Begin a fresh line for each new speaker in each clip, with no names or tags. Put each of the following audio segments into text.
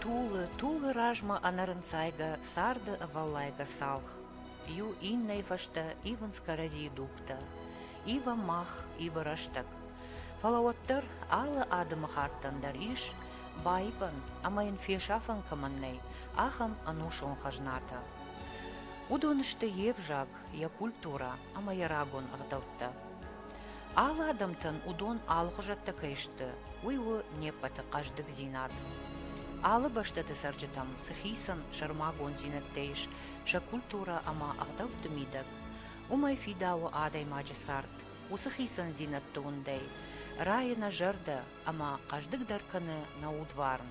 Тулы, тулы размӕ ӕнӕрынцайгӕ царды ӕвӕллайгӕ цалх, Иу иннӕй фӕстӕ ивынц кӕрӕдзийы дугтӕ, Ива мах, ива рӕстӕг. Фӕлӕ уӕддӕр алы адӕмыхаттӕн дӕр ис, баивӕн ӕмӕ йын фесафӕн кӕмӕн нӕй, ахӕм ӕнусон хӕзнатӕ. Уыдон сты йе взаг, йӕ культурӕ ӕмӕ йӕ рагон ӕгъдӕуттӕ. Алы адӕмтӕн уыдон алыгъуызӕттӕ кӕй сты, уый у не ппӕты хъӕздыгдзинад. Алы бӕстӕты цӕрджытӕм цы хицӕн сӕрмагонддзинӕдтӕ ис сӕ культурӕ ӕмӕ ӕгъдӕутты мидӕг, уымӕй фидауы адӕймаджы цард. Уыцы хицӕндзинӕдты уындӕй райы нӕ зӕрдӕ ӕмӕ хъӕздыгдӕр кӕны нӕ удварн.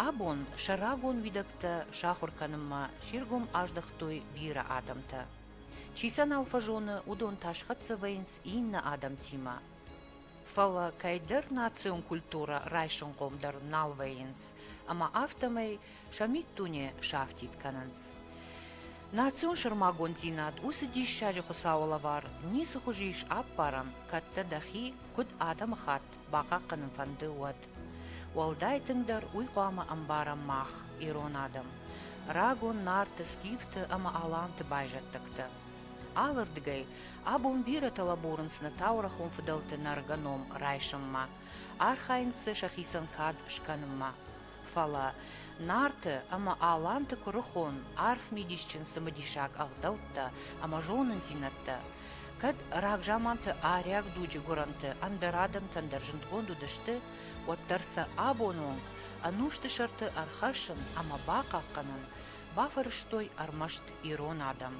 Абон сӕ рагон уидӕгтӕ сахуыр кӕнынмӕ се ргом аздӕхтой бирӕ адӕмтӕ. Чи сӕ нал фӕзоны, уыдон та схӕццӕ вӕййынц иннӕ адӕмтимӕ. Фӕлӕ кӕйдӕр национ культурӕ райсынхъом дӕр нал вӕййынц, ӕмӕ афтӕмӕй сӕ миддуне сафтид кӕнынц. Национ сӕрмагонддзинад уыцы диссаджы Хуыцауы лӕвар ницы хуызы ис ӕппарӕн, кӕд дӕ дӕхи, куыд адӕмыхатт, бахъахъхъӕнын фӕнды, уӕд. Уӕлдай тынгдӕр уый хъуамӕ ӕмбарӕм мах, ирон адӕм, рагон нарты, скифты ӕмӕ аланты байзӕддӕгтӕ. Алырдыгӕй абон бирӕтӕ лӕбурынц нӕ таурӕхъон фыдӕлты нӕргӕ ном райсынмӕ, архайынц дзы сӕхицӕн кад скӕнынмӕ. Фӕлӕ нарты ӕмӕ аланты куырыхон, арф мидисджын цымыдисаг ӕгъдӕуттӕ ӕмӕ зонындзинӕдтӕ Кӕд рагзаманты арӕх дуджы гуырӕнты ӕндӕр адӕмтӕн дӕр зындгонд уыдысты, уӕддӕр сӕ абоны онг ӕнусты сӕрты ӕрхӕссын ӕмӕ бахъахъхъӕнын бафӕрӕзтой ӕрмӕст ирон адӕм.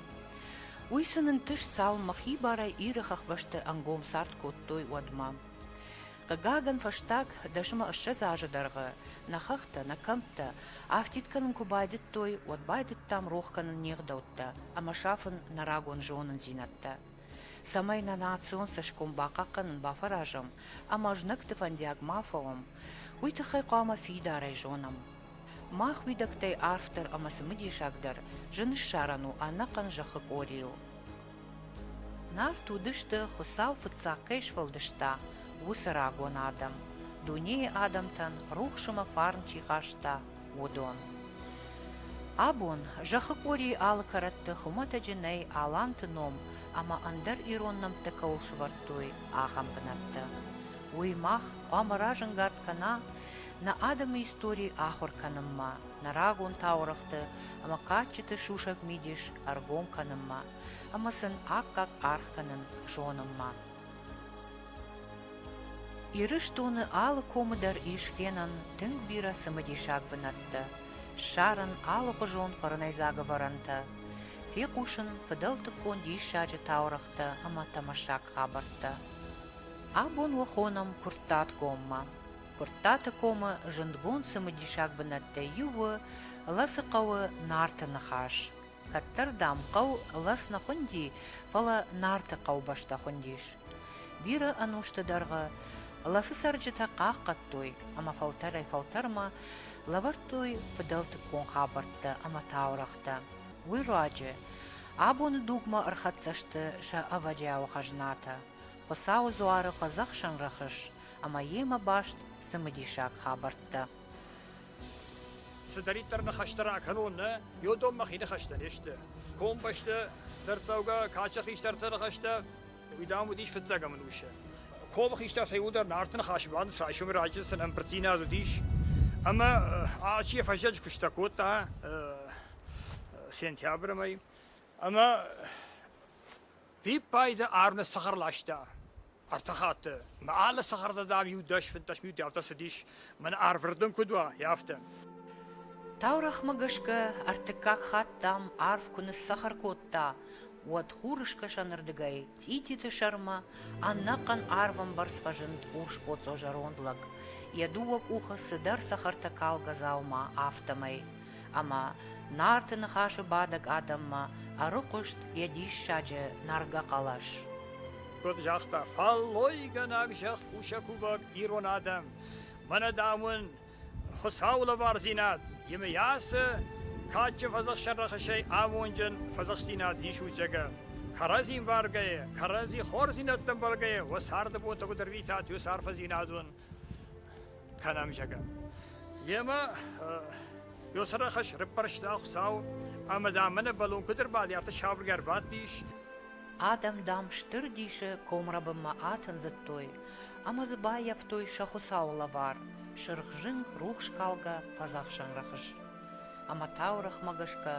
Уый сын ӕнтыст цалынмӕ хибарӕй Иры хӕхбӕсты ӕнгом цард кодтой, уӕдмӕ. Хъыгагӕн, фӕстаг дӕсмӕ ссӕдз азы дӕргъы нӕ хӕхтӕ, нӕ кӕмттӕ афтид кӕнын куы байдыдтой, уӕд байдыдтам рох кӕнын не гъдӕуттӕ ӕмӕ сафын нӕ рагон зонындзинӕдтӕ, цӕмӕй нӕ национ цӕсгом бахъахъхъӕнын бафӕразӕм ӕмӕ знӕгты фӕндиаг ма фӕуӕм, уый тыххӕй хъуамӕ фидарӕй зонӕм. Мах уидӕгтӕй арфдӕр ӕмӕ цымыдисагдӕр зын ссарӕн у ӕнӕхъӕн зӕххы къорийыл. Нарт уыдысты, Хуыцау фыццаг кӕй сфӕлдыста, уыцы рагон адӕм, дунейы адӕмтӕн рухс ӕмӕ фарн чи хаста, уыдон. Абон зӕххы къорийы алы кӕрӕтты хуымӕтӕджы нӕй аланты ном ӕмӕ ӕндӕр ирон нӕмттӕ кӕуыл сӕвӕрдтой, ахӕм бынӕттӕ. Уый мах хъуамӕ разӕнгард кӕна нӕ адӕмы истори ахуыр кӕнынмӕ, нӕ рагон таурӕгъты ӕмӕ кадджыты сусӕг мидис ӕргом кӕнынмӕ ӕмӕ сын аккаг аргъ кӕнын зонынмӕ. Ирыстоны алы комы дӕр ис фенӕн тынг бирӕ цымыдисаг бынӕттӕ, ссарын алыгъуызон фӕрнӕйдзаг ӕвӕрӕнтӕ, фехъусын фыдӕлтыккон диссаджы таурӕгътӕ ӕмӕ тамашаг хабӕрттӕ. Абон уӕ хонӕм Куырттатгоммӕ. Куырттаты комы зындгонд цымыдисаг бынӕттӕй иу у Лӕцыхъӕуы Нарты ныхас. Кӕддӕр, дам, хъӕу лӕс нӕ хуынди, фӕлӕ Нарты хъӕубӕстӕ хуындис. Бирӕ ӕнусты дӕргъы лӕсы цӕрджытӕ хъахъхъӕдтой ӕмӕ фӕлтӕрӕй-фӕлтӕрмӕ лӕвӕрдтой фыдӕлтыккон хабӕрттӕ ӕмӕ таурӕгътӕ. Уый руаджы абоны дугмӕ ӕрхӕццӕ сты сӕ ӕвӕджиауы хӕзнатӕ. Хуыцауы дзуары хъыдзӕхсӕн рӕхыс ӕмӕ йемӕ баст цымыдисаг хабӕрттӕ. Цыдӕриддӕр ныхӕстӕ ракӕнон, нӕ йодон мӕхи ныхӕстӕ не сты. Комбӕсты дӕрддзӕугӕ каччы хистӕрты ныхӕстӕ уый дам уыдис фыццаг ӕмӕнусы. Комы хистӕр фӕуылдӕр Нарты ныхасы бӕрн райсомы раджы сын ӕмбырддзинад уыдис, ӕмӕ алчи йӕ фӕззӕджы куыстӕ кодта сентябрымӕй. Ӕмӕ Фиппайды Арне сыхыр ласта. Ӕртӕ хатты. Мӕ алы сыхырды, дам, иу дӕс-фынддӕс минутӕ ӕртӕцыдис. Мӕн арвырдын куыд уа, и афтӕ. Таурӕгъмӕ гӕсгӕ ӕртыккаг хатт, дам, арв куы ныссахар кодта, уӕд хурыскӕсӕнырдыгӕй цъититы сӕрмӕ ӕнӕхъӕн арвӕмбӕрц фӕзынд урс боцъо зӕронд лӕг, йӕ дыууӕ къухы цыдӕр цӕхӕртӕ калгӕ дзаума, афтӕмӕй. ӕмӕ Нарты ныхасы бадӕг адӕммӕ ӕрыхъуыст йӕ диссаджы нӕргӕ хъӕлӕс. Куыд загъта фӕллойгӕнӕг зӕхкусӕг кувӕг ирон адӕм, мӕнӕ дам уын Хуыцауы лӕвардзинад, емыйасы кадджын фӕдзӕхсӕн рӕхысӕй амонджын фӕдзӕхстдзинад исут зӕгӕ. Кӕрӕдзи мбаргӕйӕ, кӕрӕдзи хорздзинӕдтӕ ӕмбаргӕйӕ уӕ царды бонтӕ куыд ӕрвитат уыцы арфӕдзинадон кӕнӕм, зӕгъӕ. Емӕ Ёсӕрахӕс рыппӕрста Хуцау ӕма дам мӕнӕ бӕлон куд ӕрбадӕ, сабыргӕ ӕрбадтис. Адӕм, дам, стыр дисы комрӕбынмӕ атындзыдтой ӕмӕ дзы баййӕфтой сӕ Хуыцауы лӕвар, сырх зынг, рухскалгӕ фӕдзӕхсӕн рӕхыс. Ӕмӕ таурӕгъмӕ гӕсгӕ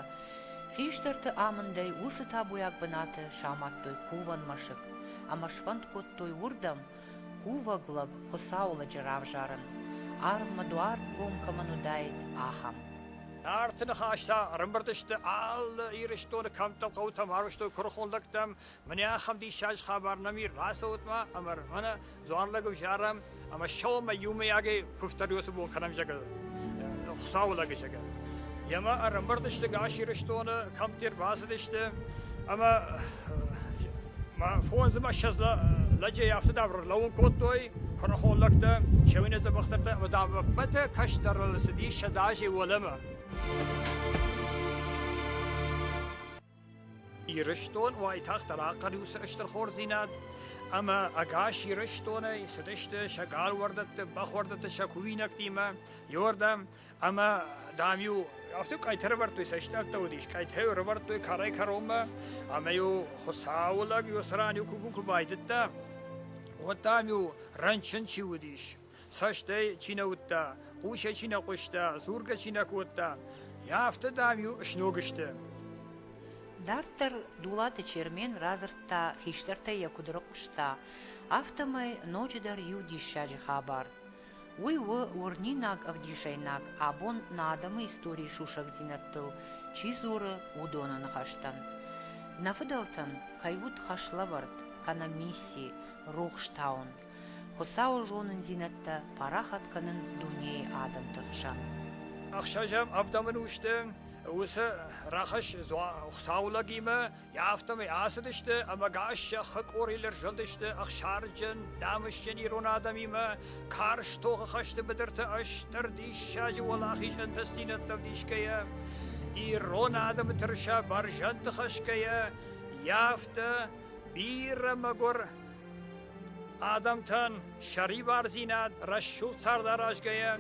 хистӕрты амындӕй уыцы табуйаг бынаты самадтой кувӕн мӕсыг ӕмӕ сфӕнд кодтой уырдӕм Кувӕг лӕг Хуыцауы лӕджы равзарын, арвмӕ дуар гом кӕмӕн уыдаид, ахӕм. Нарты ныхӕстӕ ӕрӕмбырд сты алы Ирыстоны кӕмттӕм хъӕутӕм, арвыстой куырыхон лӕгтӕм, мӕнӕ ахӕм диссаджы хабар нӕм и, рацӕут-ма ӕмӕ мӕнӕ дзуан лӕг ӕвзарӕм, ӕмӕ сӕумӕ иумӕйагӕй куывддӕр уыцы мол кӕнӕм зӕгӕ Хуыцауы лӕг зӕгӕ. Емӕ ӕрӕмбырдысты Гас Ирыстоны, кӕмдӕр бацыдысты, ӕмӕ фондз ӕмӕ ссӕдз лӕджей афтӕ давр лӕууын кодтой, куырыхон лӕгтӕ, сӕуинӕ дзӕбӕхтӕртӕ ӕмӕ давӕппӕтӕ кӕстӕрыл цыдис сӕдӕ азей уӕлӕмӕ. Ирыстон уайтагъддӕр ахъӕр у цы стыр хорздзинад, ӕмӕ ӕгас Ирыстонӕй цыдысты сӕ галуӕрдӕтты, бӕхуӕрдӕтты, сӕ кувинӕгтимӕ иуӕрдӕм, ӕмӕ, дам-иу афтӕ къӕйты ӕрӕвӕрдтой сӕ стъӕлттӕ уыдис, къӕйтӕ ӕрӕвӕрдтой кӕрӕй-кӕронмӕ, ӕмӕ-иу Хуыцауы лӕг иу цыран иу куы байдыдта, уӕд, дам-иу рынчын чи уыдис, Цӕстӕй чи нӕ уыдта, хъусӕй чи нӕ хъуыста, дзургӕ чи нӕ кодта, афтӕ, дам-иу сног сты. Дарддӕр Дулаты Чермен радзырдта, хистӕртӕй йӕ куыд рыхъуыста, афтӕмӕй ноджыдӕр иу диссаджы хабар. Уый у уырнинаг ӕвдисӕйнаг, абон нӕ адӕмы историйы сусӕгдзинӕдтыл чи дзуры, уыдоны ныхӕстӕн. Нӕ фыдӕлтӕн кӕй уыд хӕслӕвӕрд, кӕнӕ мисси, рухс таун. Хуыцауы зонындзинӕдтӕ парахат кӕнын дунейы адӕмты хсӕн. Ӕхсӕзӕм ӕвдӕмын усты уыцы рӕхыс Хуыцауы лӕгимӕ, афтӕмӕй ацыдысты ӕмӕ гас зӕххы къорилӕр зылдысты ӕхсарджын, намысджын ирон адӕмимӕ, карз тохы хӕсты быдырты ыстыр диссаджы уӕлахиз ӕнтыстдзинӕдтӕ ӕвдисгӕйӕ, ирон адӕмы тырыса бӕрзӕндты хӕсгӕйӕ, йӕ афтӕ бирӕ мӕгуыр Адӕмтӕн сӕрибардзинад рӕсугъд цардаразгӕйӕ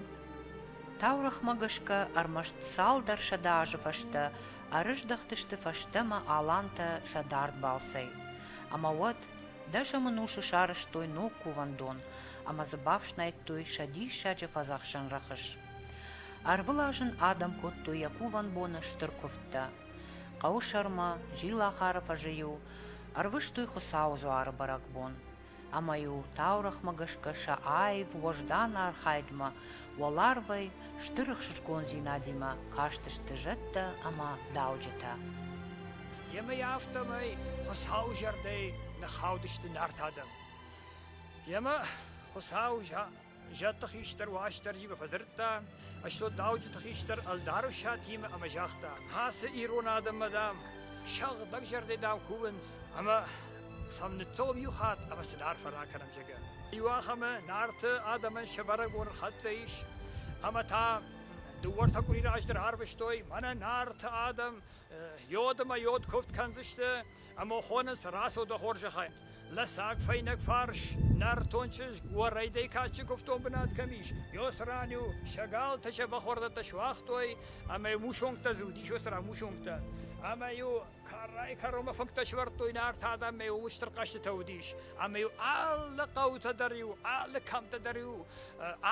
Таурӕхмӕ гӕсгӕ ӕрмӕст цалдӕр сӕдӕ азы фӕстӕ ӕрыздӕхтысты фӕстӕмӕ алантӕ сӕ дард балцӕй. Ӕмӕ уӕд дӕсӕмы нусы сарӕзтой ног кувӕндон ӕмӕ дзы бафснайдтой сӕ диссаджы фӕдзӕхсӕн рӕхыс. Ӕрвылаз ын адӕм кодтой йӕ кувӕн боны стыр куывдтӕ, Хъӕуы сӕрмӕ зилахары фӕзы-иу ӕрвыстой Хуыцауы дзуары бӕрӕгбон, ӕмӕ-иу таурӕгъмӕ гӕсгӕ сӕ аив уӕздан архайдмӕ, уӕларвӕй стыр ӕхсызгондзинадимӕ кастысты зӕдтӕ ӕмӕ дауджытӕ. Йемӕ афтӕмӕй Хуыцауы зӕрдӕйы ныххаудысты Нарт адӕм. Йемӕ Хуыцауы Зӕдты хистӕр Уастырджимӕ фӕдзырдта, стот дауджыты хистӕр ӕлдару Сатимӕ ӕмӕ загъта: Ацы ирон адӕммӕ, дам, сӕгъдӕг зӕрдӕ, дам, кувынц, ӕмӕ сӕм ныццӕуӕм иу хатт ӕмӕ сын арфӕ ракӕнӕм, зӕгъгӕ. Иу ахӕмы Нарты адӕмӕн сӕ бӕрӕгбоны хӕццӕ ис, ӕмӕ та дыууӕртӕ къуыри раздӕр арвыстой, мӕнӕ Нарты адӕм йод ӕмӕ йод куывд кӕндзысты, Ӕма хонӕс рацудӕ хорзӕхӕй. Лӕсӕг фӕйнӕг фарс, нӕртон чызг уӕ райдӕй кадджи кувтон бунат кӕми ис, еуӕ ран-еу сӕ галтӕ сӕ бӕхуӕрдӕттӕ суагътой, ӕма мусонгтӕ зилдис уӕсӕрӕ мусонгтӕ. Ӕма-еу кӕрӕй-кӕронмӕ фӕнгтӕ сивардтой Нарт адӕммӕ устур хъӕститӕ уодис, ӕма-еу алли хъаутӕ дӕр-еу, алли кӕмтӕ дӕр-еу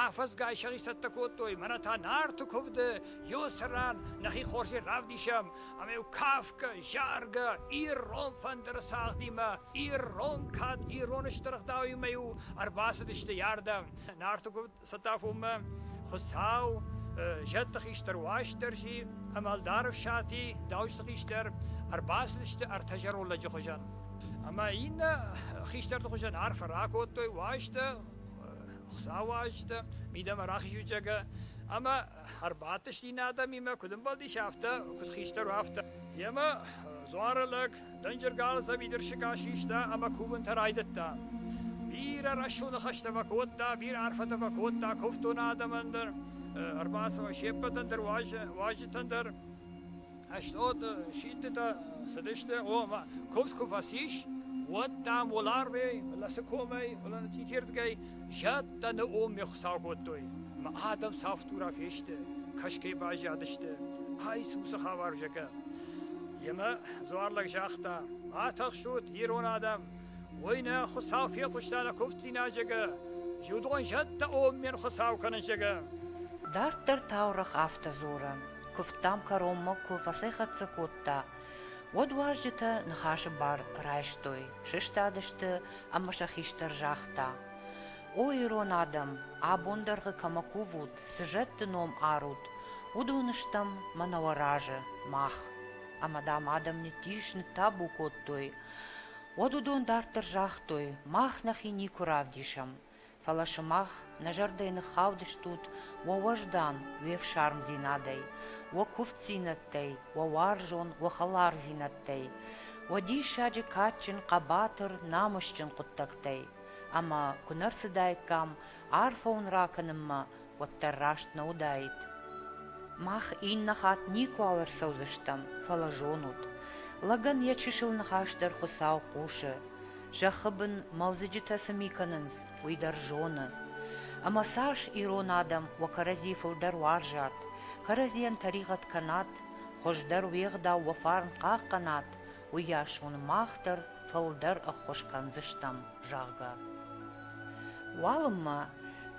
афӕдзгай сӕ исцӕттӕ кодтой. Мӕнӕ та Нарти кувды еуӕ ран нӕхе хорзи равдесӕм, ӕмӕ-иу кафгӕ, заргӕ, ирон фӕндыры цагъдимӕ, ирон кад, ирон стыр ӕгъдауимӕ-иу ӕрбацыдысты ярдӕм. Нарты куывд Сатафонмӕ Хуыцау зӕдты хистӕр Уастырджи ӕмӕ ӕлдар Ӕфсати дауджыты хистӕр ӕрбацыдысты ӕртӕ зӕронд лӕджы хуызӕн. Ӕмӕ иннӕ хистӕрты хуызӕн арфӕ ракодтой уазджытӕ, Хуыцауы уазджытӕ, мидӕмӕ рахизуджагӕ ӕмӕ ӕрбадтысти нӕ адӕмимӕ, куыд ӕмбӕлдис, афтӕ, куыд хистӕр, афтӕ. Йемӕ дзуары лӕг дӕнджыр галдза бидырсыгӕ систа ӕмӕ кувынтӕ райдыдта. Бирӕ рӕсугъды хӕстӕ фӕкодта, бирӕ арфӕтӕ фӕкодта куывддоны адӕмӕн дӕр, ӕрбацӕуӕн се ппӕтӕн дӕр, уазджытӕн дӕр. Ӕслот синтытӕ цыдысты, ома куывд куы фӕцис, уӕд, дам, уӕларвӕй, фӕлӕ цы комӕй, фӕлӕ цъитирдгӕй зӕдтӕны оммӕ Хуыцау кодтой. Ӕмӕ адӕм цавддурӕ фесты, кӕсгӕ баззадысты. Айсусы хабар зӕгӕ. Йемӕ дзуарлӕг загъта: Ма тыхсут, ирон адӕм! Уый нӕ Хуыцау фехъуыста нӕ куывддзинад зӕгӕ. Зудон зӕдтӕ оммен Хуыцау кӕнын зӕгӕ. Дарддӕр таурӕгъ афтӕ дзуры. куывдтӕм кӕронмӕ куы фӕцӕйхӕццӕ кодта, уӕд уазджытӕ ныхасы бар райстой, сыстадысты ӕмӕ сӕ хистӕр загъта, О ирон адӕм, абон дӕргъы кӕмӕ кувут, цы зӕдты ном арут, уыдон стӕм мӕнӕ уӕ разы, мах. Ӕмӕ дам адӕм ниттис, ныттабу кодтой. Уӕд уыдон дарддӕр загътой, Мах нӕхи никуы равдисӕм, Фӕлӕ сымах нӕ зӕрдӕйы ныххаудыстут уӕ уӕздан, уе фсармдзинадӕй, уӕ куывддзинӕдтӕй, уӕ уарзон, уӕ хӕлардзинӕдтӕй, уӕ диссаджы кадджын, хъӕбатыр, намысджын хъуыддӕгтӕй. Ӕмӕ куы нӕ рцыдаиккам арфӕ уын ракӕнынмӕ, уӕддӕр раст нӕ уыдаид. Мах иннӕ хатт никуал ӕрцӕудзыстӕм, фӕлӕ зонут. Лӕгӕн йӕ чысыл ныхас дӕр Хуыцау хъусы. Зӕххы бын мӕлдзыджытӕ цы ми кӕнынц, уый дӕр зоны. Ӕмӕ цас ирон адӕм уӕ кӕрӕдзи фылдӕр уарзат, кӕрӕдзийӕн тӕригъӕд кӕнат, хуыздӕр уе гъдау уӕ фарн хъахъхъӕнат, уыйас уын мах дӕр фылдӕр ӕххуыс кӕндзыстӕм, зӕгъгӕ. Уалынмӕ,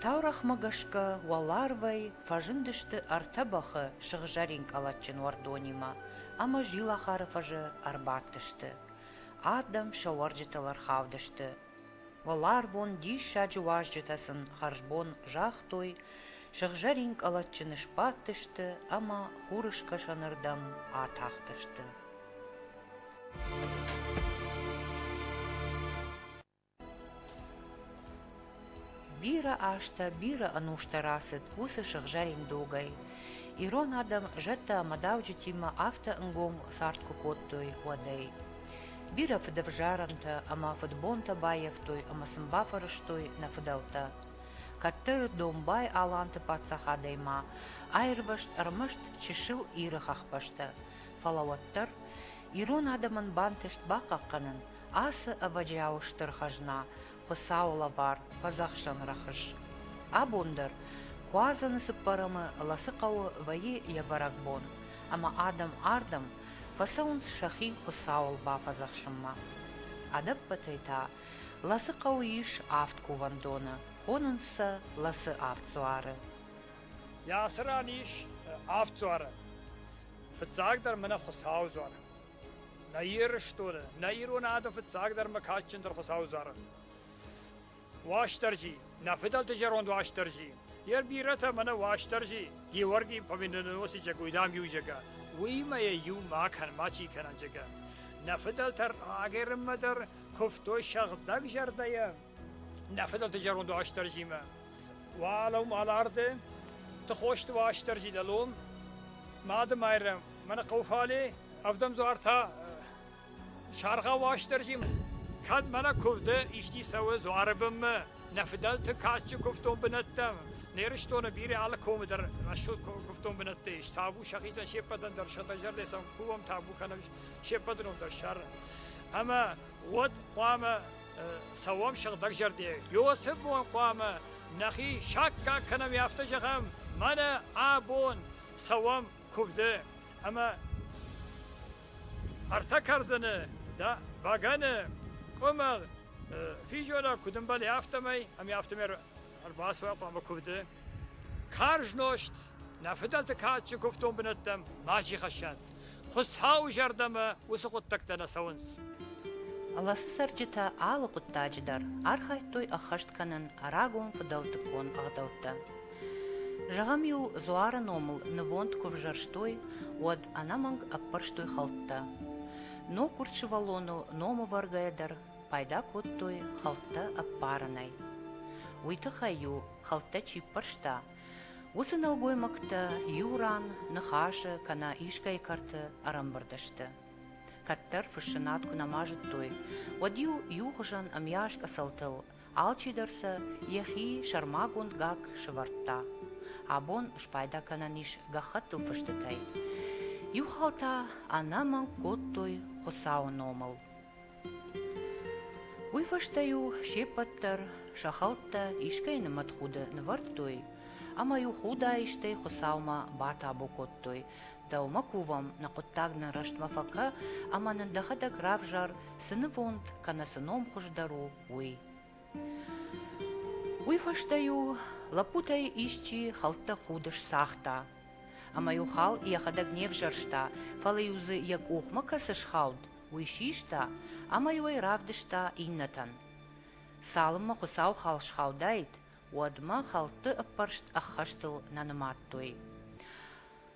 таурӕгъмӕ гӕсгӕ, уӕларвӕй фӕзындысты ӕртӕ бӕхы сыгъзӕрин къӕлӕтджын уӕрдонимӕ ӕмӕ зилахары фӕзы ӕрбадтысты. Адӕм сӕ уӕрджытыл ӕрхаудысты Уӕларвон диссаджы уазджытӕ сын хӕрзбон загътой, сыгъзӕрин къӕлӕтджыны сбадтысты ӕмӕ хурыскӕсӕнырдӕм атахтысты. Бирӕ азтӕ, бирӕ ӕнустӕ рацыд уыцы сыгъзӕрин догӕй. Ирон адӕм зӕдтӕ ӕмӕ дауджытимӕ афтӕ ӕнгом цард куы кодтой, уӕдӕй. Бирӕ фыдӕвзарӕнтӕ ӕмӕ фыдбонтӕ баййӕфтой ӕмӕ сын бафӕрӕзтой нӕ фыдӕлтӕ. Кӕддӕр Домбай-Аланты паддзахадӕй ма аирвӕзт ӕрмӕст чысыл Иры хӕхбӕстӕ, фӕлӕ уӕддӕр ирон адӕмӕн бантыст бахъахъхъӕнын ацы ӕвӕджиауы стыр хӕзна, Хуыцауы лӕвар, фӕдзӕхсӕн рӕхыс. Абон дӕр Куадзӕны цыппӕрӕмы Лӕцыхъӕуы вӕййы йӕ бӕрӕгбон, ӕмӕ адӕм ардӕм фӕцӕуынц сӕхи Хуыцауыл бафӕдзӕхсынмӕ. Ӕдӕппӕтӕй та Лӕцыхъӕуы ис авд кувӕндоны, хонынц сӕ Лӕцы авд дзуары. Йӕ ацы ран ис авд дзуары. Фыццагдӕр мӕнӕ Хуыцауы дзуар. Нӕ Ирыстоны, нӕ ирон ады фыццагдӕр ӕмӕ кадджындӕр Хуыцауы зары. Уастырджи, нӕ фыдӕлты зӕронд Уастырджи, йӕ бирӕтӕ мӕнӕ Уастырджи Георгий Победоносый зӕгӕ уйдам иу зӕгӕ, уыимӕ йӕ иу ма кӕн, ма чи кӕнӕн зӕгӕ. Нӕ фыдӕлтӕ рагӕрынмӕ дӕр куывтой сӕгъдӕг зӕрдӕйӕ, Нӕ фыдӕлты зӕронд Уастырджимӕ. Уӕлӕм аларды, Тыхосты Уастырджи дӕлон, Мады Майрӕм, мӕнӕ хъуфале, ӕвдӕмдзуартӕ, саргъа Уастырджим, кӕд мӕнӕ куывды исти цӕуы дзуары бынмӕ, нӕ фыдӕлты кадджы куывдон бынӕттӕм, не рыстоны бирӕ алы комы дӕр рӕсугъд куывдон бынӕттӕ ис, табу сӕхицӕн се ппӕтӕн дӕр, сӕ зӕрдӕ сӕм кувӕм табу кӕнӕм се ппӕтӕн дӕр сӕр. Ӕмӕ уӕд хъуамӕ цӕуӕм сыгъдӕгзӕрде. Иосиф уын хъуамӕ нӕхи саккаг кӕнӕм, афтӕ зӕгъӕм, мӕнӕ абон цӕуӕм куывды ӕмӕ ӕртӕ кӕрдзыны дӕ бӕгӕны къуымӕл физора куыд ӕмбӕлы, афтӕмӕй ӕмӕ афтӕмӕй ӕрбацӕуа хъуамӕ куывды. Карз нозт нӕ фыдӕлты кадджын куывдон бынӕттӕм ма джихӕссӕд. Хуыцауы зӕрдӕмӕ уыцы хъуыддӕгтӕ нӕ цӕуынц. Ласы цӕрджытӕ алы хъуыддаджы дӕр архайдтой ӕххӕст кӕнын рагон фыдӕлтыккон ӕгъдӕуттӕ. Зӕгъӕм-иу Дзуары номыл нывонд куы взӕрстой, уӕд ӕнӕмӕнг ӕппӕрстой хӕлттӕ. Ног урдсывӕллоныл номӕвӕргӕйӕ дӕр пайда кодтой хӕлттӕ ӕппарынӕй. Уый тыххӕй-иу хӕлттӕ чи ппӕрста, Уыцы нӕлгоймӕгтӕ иу ран ныхасы кӕнӕ искӕй кӕрты ӕрӕмбырд сты. Кӕддӕр фыссынад куы нӕма зыдтой, уӕд-иу иухуызӕн ӕмйас къӕцӕлтыл алчидӕр сӕ йӕхи сӕрмагонд гакк сывӕрдта. Абон спайда кӕнӕн ис гӕххӕттыл фыстытӕй. Иу хал та ӕнӕмӕнг кодтой Хуыцауы номыл. Уый фӕстӕ-иу се ппӕт дӕр сӕ хӕлттӕ искӕй нымӕтхуды нывӕрдтой ӕмӕ-иу худаистӕй Хуыцаумӕ батабу кодтой: «Дӕумӕ кувӕм, нӕ хъуыддаг нын рӕстмӕ фӕкӕ ӕмӕ нын дӕхӕдӕг равзар, цы нывонд кӕнӕ цы ном хуыздӕр у, уый». Уый фӕстӕ-иу лӕппутӕй исчи хӕлттӕ худы сцагъта ӕмӕ-иу хал йӕхӕдӕг не взӕрста, фӕлӕ-иу дзы йӕ къухмӕ кӕцы схауд, уый систа ӕмӕ-иу ӕй равдыста иннӕтӕн. Цалынмӕ Хуыцау хал схаудаид, уӕдмӕ хӕлтты ӕппӕрст ӕххӕстыл нӕ нымадтой.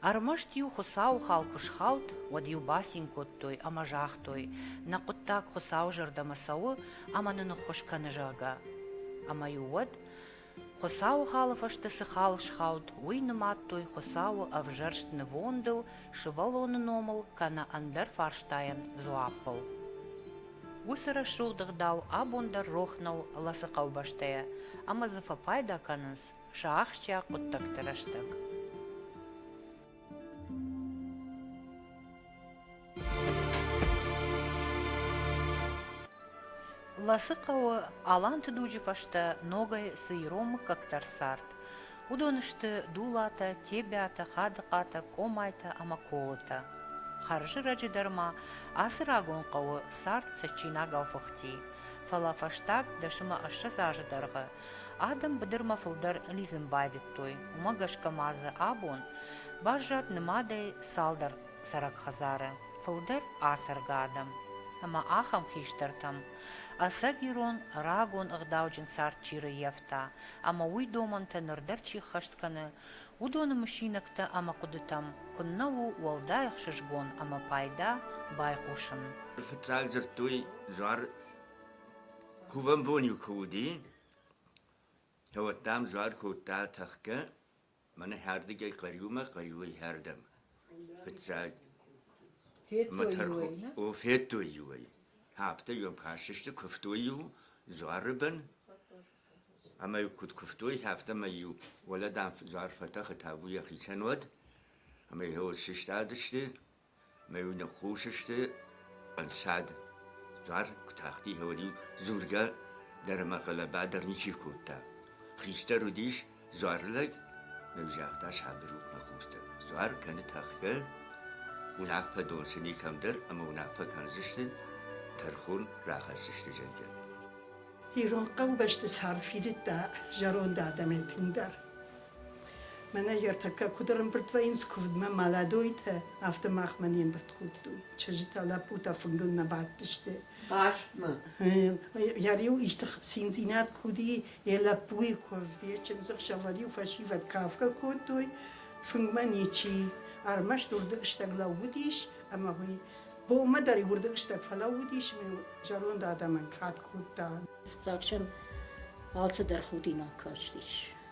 Ӕрмӕст-иу Хуыцауы хал куы схауд, уӕд-иу бацин кодтой ӕмӕ загътой, нӕ хъуыддаг Хуыцауы зӕрдӕмӕ цӕуы ӕмӕ нын ныххуыс кӕны, зӕгъгӕ. Ӕмӕ-иу уӕд Хуыцауы халы фӕстӕ цы хал схауд, уый нымадтой Хуыцауы ӕвзӕрст нывондыл, сывӕллоны номыл кӕнӕ ӕндӕр фарстайӕн дзуаппыл. Уыцы рӕсугъд ӕгъдау абон дӕр рох нӕу Ласы хъӕубӕстӕйӕ ӕмӕ дзы фӕпайда кӕнынц сӕ ахсджиаг хъуыддӕгты рӕстӕг. Ласы хъӕуы аланты дуджы фӕстӕ ногӕй цы ирон мыггӕгтӕ рцард, уыдон сты Дулатӕ, Тебиатӕ, Хадыхъатӕ, Къомайтӕ ӕмӕ Колытӕ. Хӕрзырӕджы дӕр ма ацы рагон хъӕуы цард цӕджджинагау фыхти, фӕлӕ фӕстаг дӕсӕмӕ ӕссӕдз азы дӕргъы Адӕм быдырмӕ фылдӕр лидзын байдыдтой, уымӕ гӕсгӕ ма дзы абон баззад нымадӕй цалдӕр цӕрӕг хӕдзары, фылдӕр ацӕргӕ адӕм. Ӕмӕ ахӕм хистӕртӕм ӕцӕг ирон рагон ӕгъдауджын цард чи рыййӕфта ӕмӕ уый домӕнтӕ ныр дӕр чи ххӕст кӕны, уыдоны мысинӕгтӕ ӕмӕ хъуыдытӕм куыннӕ у уӕлдай ӕхсызгон ӕмӕ пайда байхъусын. Фыццаг дзырдтой, дзуар Кувӕн бон-иу куы уыди, уӕд, дам, дзуар кодта тӕхгӕ, мӕнӕ хӕрдӕгӕй хъӕриумӕ, хъӕриуӕй хӕрдӕм. Фыццаг федтой-иу ӕй, о, федтой-иу ӕй. Афтӕ-иу ӕм хӕссысты, куывтой-иу дзуары бын, ӕмӕ-иу куыд куывтой, афтӕмӕй-иу уӕлӕ, дам, дзуар фӕтӕхы та уый йӕхицӕн уӕд, ӕмӕ-иу сыстадысты. Мӕ-иу ныхъхъус сты ӕнцад. Дуар куы тахтихъӕуӕд и, дзургӕ дӕр ӕмӕ хъӕлӕба дӕр ничи кодта. Хистӕр уыдис дзуары лӕг, мын загъта сабыргъуыммӕ хуртӕ: «Дзуар кӕны тӕхгӕ, уынаффӕ донсыни кӕмдӕр ӕмӕ уынаффӕ кӕндзысты, тӕрхон рахӕсдзысты зӕгъгӕ». Ирон хъӕубӕсты цард фидыдта зӕронд адӕмӕй тынгдӕр. Мӕнӕ ертӕккӕ куыд ӕрӕмбырд вӕййынц куывдмӕ молодойтӕ, афтӕ махмӕ не мбырд кодтой. Чызджытӕ, лӕппутӕ фынгылмӕ бадтысты. Хъазтмӕ? Йӕ риу исты циндзинад куы уыди, йӕ лӕппуйы куывд, йӕ чындзӕхсӕвӕр-иу фӕсивӕд кафгӕ кодтой, фынгмӕ ничи. Ӕрмӕст уырдыгстӕг лӕууыдис, ӕмӕ уый бонмӕ дӕр уырдыгстӕг фӕлӕууыдис ӕмӕ зӕронд адӕмӕн кад кодта. Фыццаг сӕм алцыдӕр худинаг кастис.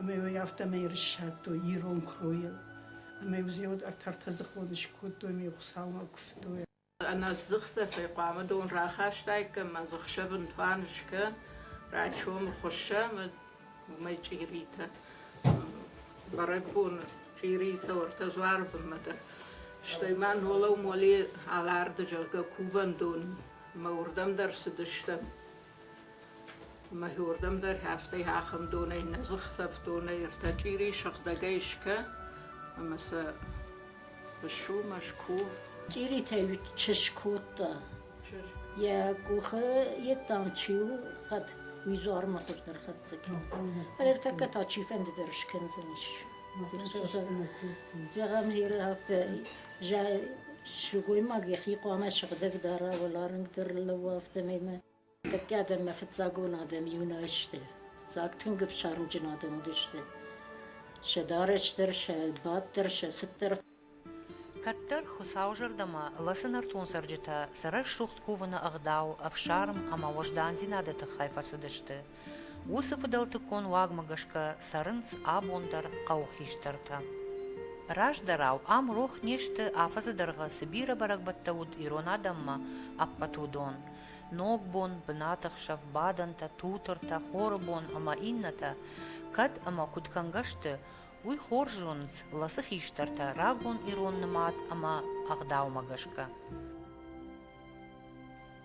ӕмӕ йыл афтӕмӕй ӕрыссадтой ирон кройыл. Ӕмӕ йыл зиод ӕртӕртӕдзыхон скодтой ӕмӕ йыл Хуыцаумӕ куывтой. Ӕнӕдзых цӕфӕй хъуамӕ дон рахастаиккам ӕмӕ дзыхсӕвын туан скӕн, рачомы хуыссӕм уымӕй чъиритӕ. Бӕрӕгбоны чъиритӕ ортӕ дзуары бынмӕ дӕр. Стӕй ма нолау моли аларды, зӕгъгӕ, кувӕндон. Мӕ уырдӕм дӕр цыдыстӕм. Мӕхи уордӕм дӕр ӕфтӕй хӕхӕндонӕй нӕ дзӕхсӕвдонӕй ӕртӕ чъири сыгъдӕгӕй исгӕ ӕма сӕ сумӕ, скув. Чъиритӕй чыз кодта. Йӕ къухы йеддӕмӕ чи у, хъӕд уый дзуармӕ хуыздӕр хӕццӕ кӕны. Ӕртӕккӕ та чифӕнды дӕр скӕндзӕнис. Зӕгъӕм, Иры афтӕ сылгоймаг йӕхи хъуамӕ сыгъдӕг дара уӕларынгдӕр лӕууа, афтӕмӕй мӕ тӕккӕ адӕммӕ фыццагон адӕм иунӕ сты. Фыццаг тынг ӕфсармджын адӕм уыдысты. Сӕ дарӕс дӕр, сӕ бад дӕр, сӕ цыт дӕр. Кӕддӕр Хуыцауы зӕрдӕмӕ лӕцы нӕртон цӕрджытӕ сӕ рӕсугъд кувыны ӕгъдау, ӕфсарм ӕмӕ уӕздандзинады тыххӕй фӕцыдысты. Уыцы фыдӕлтыккон уагмӕ гӕсгӕ цӕрынц абон дӕр хъӕуыхистӕртӕ. Раздӕрау ам рох не сты афӕдзы дӕргъы цы бирӕ бӕрӕгбӕттӕ уыд ирон адӕммӕ, ӕппӕт уыдон. Ногбон, бынаты хсӕв бадӕнтӕ, тутыртӕ, хоры бон ӕмӕ иннӕтӕ кӕд ӕмӕ куыд кӕнгӕ сты, уый хорз зонынц ласы хистӕртӕ рагон ирон нымад ӕмӕ ӕгъдаумӕ гӕсгӕ.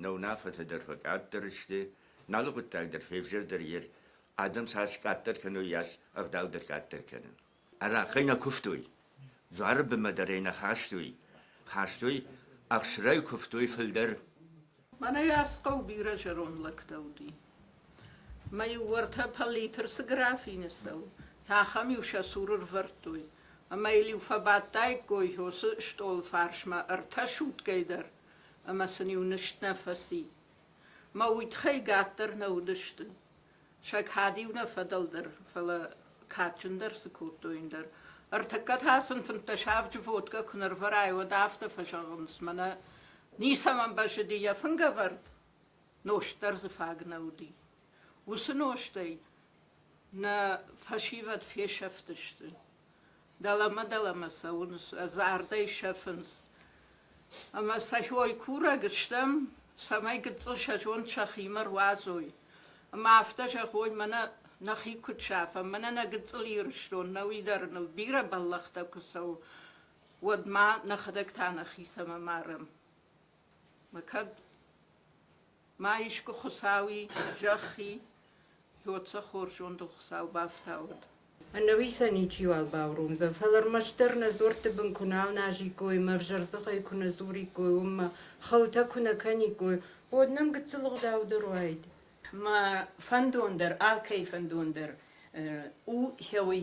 нӕ уынаффӕтӕ дӕр фӕкъаддӕр сты, налы хъуыддаг дӕр февзӕрдӕр ир, адӕм цас къаддӕр кӕной, йас ӕгъдау дӕр къаддӕр кӕны. Арахъхъӕй нӕ куывтой, дзуары бынмӕ дӕр ӕй нӕ хастой, хастой, ӕхсырӕй куывтой фылдӕр. Мӕнӕ йас хъӕу бирӕ зӕронд лӕгтӕ уыди. Мӕ-иу уӕртӕ пӕллитр цы графины цӕуы, ахӕм-иу сӕ цуры рвӕрдтой, ӕмӕ йыл-иу фӕбадтаиккой Иосы стъолы фарсмӕ ӕртӕ сутгӕй дӕр, ӕмӕ сын-иу нызт нӕ фӕци. Мӕ удхӕй гӕддӕр нӕ уыдысты, сӕ кад-иу нӕ фӕдӕлдӕр, фӕлӕ кадджындӕр цы кодтой, ӕндӕр. Ӕртыккӕ та сын фынддӕс авджы водкӕ куы нӕрвӕрай, уӕд афтӕ фӕзӕгъынц, мӕнӕ ницӕмӕн бӕззыди йӕ фынгӕвӕрд, нозт дӕр дзы фаг нӕ уыди. Уыцы нозтӕй нӕ фӕсивӕд фесӕфтысты. Дӕлӕмӕ-дӕлӕмӕ цӕуынц, ӕз ардӕй сӕфынц. Ӕмӕ сӕ ой курӕг стӕм, цӕмӕй гыццыл сӕ зонд сӕхимӕ руадзой. Ӕмӕ афтӕ зӕгъой, мӕнӕ нӕхи куыд сафӕм, мӕнӕ нӕ гыццыл Ирыстон, нӕуи дӕр ныл бирӕ бӕллӕхтӕ куы цӕуы, уӕд ма нӕхӕдӕг та нӕхицӕн ӕмарӕм. Мӕ кӕд Ма искуы Хуыцауи зӕххи Ёцӕ хорз зондыл Хуыцау бафтауӕд. Ӕнӕуисӕн ничиуал бауромдзӕн, фӕлӕ ӕрмӕстдӕр нӕ дзуӕртты бын куы нал назиккой ӕмӕ ӕвзӕрдзыхӕй куы нӕ дзуриккой, уыммӕ, хъӕутӕ куы нӕ кӕниккой, уӕд нӕм гыццыл ӕгъдау дӕр уаид. Мӕ фӕндон дӕр, алкӕй фӕндон дӕр у хёй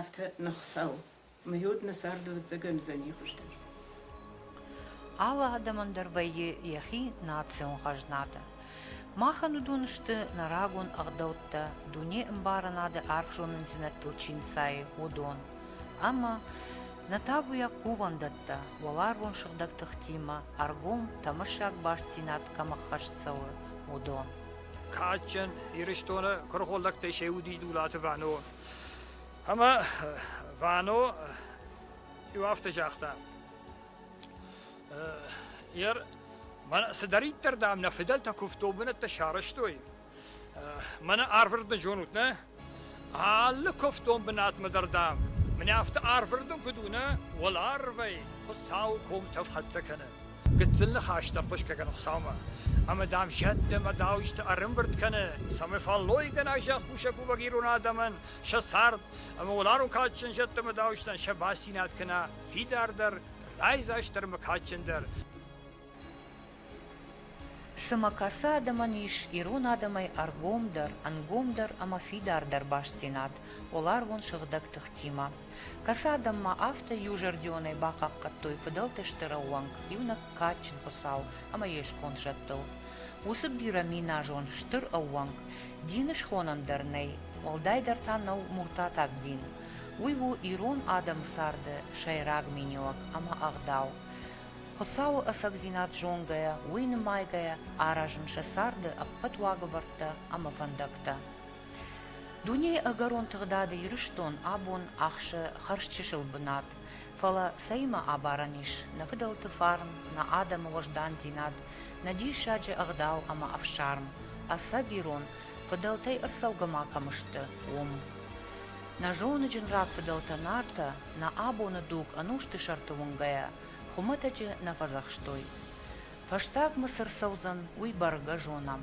афтӕ ныхсау, мӕй уӕд нӕ царды ӕвӕццӕгӕн уыдзӕни хуыздӕр. Алы адӕмӕн дӕр вӕййы йӕхи национ хӕзнатӕ. Махӕн уыдон сты нӕ рагон ӕгъдӕуттӕ, дунеӕмбарынады арф зонындзинӕдтыл чи нцайы, уыдон. Ӕмӕ нӕ табуйаг кувӕндӕттӕ, уӕларвон сыгъдӕг тыхтимӕ ӕргом тӕмӕссаг бастдзинад кӕм ӕххӕст цӕуы, уыдон. Кадджын Ирыстоны куырыхоллӕгтӕй се уыдис Дулаты Вано, Ӕма Вано еу афтӕ загъта. Ер, мӕн цидӕриддӕр, дам, нӕ фыдӕлтӕ куывдон бынӕттӕ сарӕзтой, мӕнӕ арвырдын зонут, нӕ? Алы куывдон бынатмӕ дӕр, дам, мӕнӕ афтӕ арвырдын куыд у, нӕ? Уӕларвӕй Хуыцауы комтӕ хӕццӕ кӕны. Гыццыл ныхӕстӕ хъуысгӕ Хуыцаумӕ, ӕмӕ, дам, зӕдтӕ ӕмӕ дауджыты ӕрӕмбырд кӕны, цӕмӕй фӕллойгӕнӕг зӕхкусӕг уӕвӕг ирон адӕмӕн сӕ цард ӕмӕ уӕларвон кадджын зӕдтӕ ӕмӕ дауджытӕн сӕ бастдзинад кӕна фидардӕр, райдзастдӕр ӕмӕ кадджындӕр. Цымӕ кӕцы адӕмӕн ис ирон адӕмӕй ӕргомдӕр, ӕнгомдӕр ӕмӕ фидардӕр бастдзинад уӕларвон сыгъдӕг тыхтимӕ? Кӕсы адӕммӕ афтӕ, иузӕрдионӕй бахъахъхъӕдтой фыдӕлты стыр ӕууӕнк, иунӕг кадджын хуыцау ӕмӕ йе сконд зӕдтыл. Уыцы бирӕминазон стыр ӕууӕнк дины схонӕн дӕр нӕй, уӕлдайдӕр та нӕу муртатаг дин. Уый у ирон адӕмы царды сӕйраг миниуӕг ӕмӕ ӕгъдау. Хуыцауы ӕцӕгдзинад зонгӕйӕ, уый нымайгӕйӕ аразын сӕ царды ӕппӕт уагӕвӕрдтӕ ӕмӕ фӕндӕгтӕ. Дунейы ӕгӕрон тыгъдады Ирыстон абон ахсы хӕрзчысыл бынат, фӕлӕ цӕимӕ абарӕн ис нӕ фыдӕлты фарн, нӕ адӕмы уӕздандзинад, нӕ диссаджы ӕгъдау ӕмӕ ӕфсарм, ӕцӕг ирон фыдӕлтӕй ӕрцӕугӕ ма кӕм сты, уым. Нӕ зоныджын рагфыдӕлтӕ Нартӕ нӕ абоны дуг ӕнусты сӕрты уынгӕйӕ хуымӕтӕджы нӕ фӕдзӕхстой. Фӕстаг Мысыр цӕудзӕн, уый бӕргӕ зонӕм,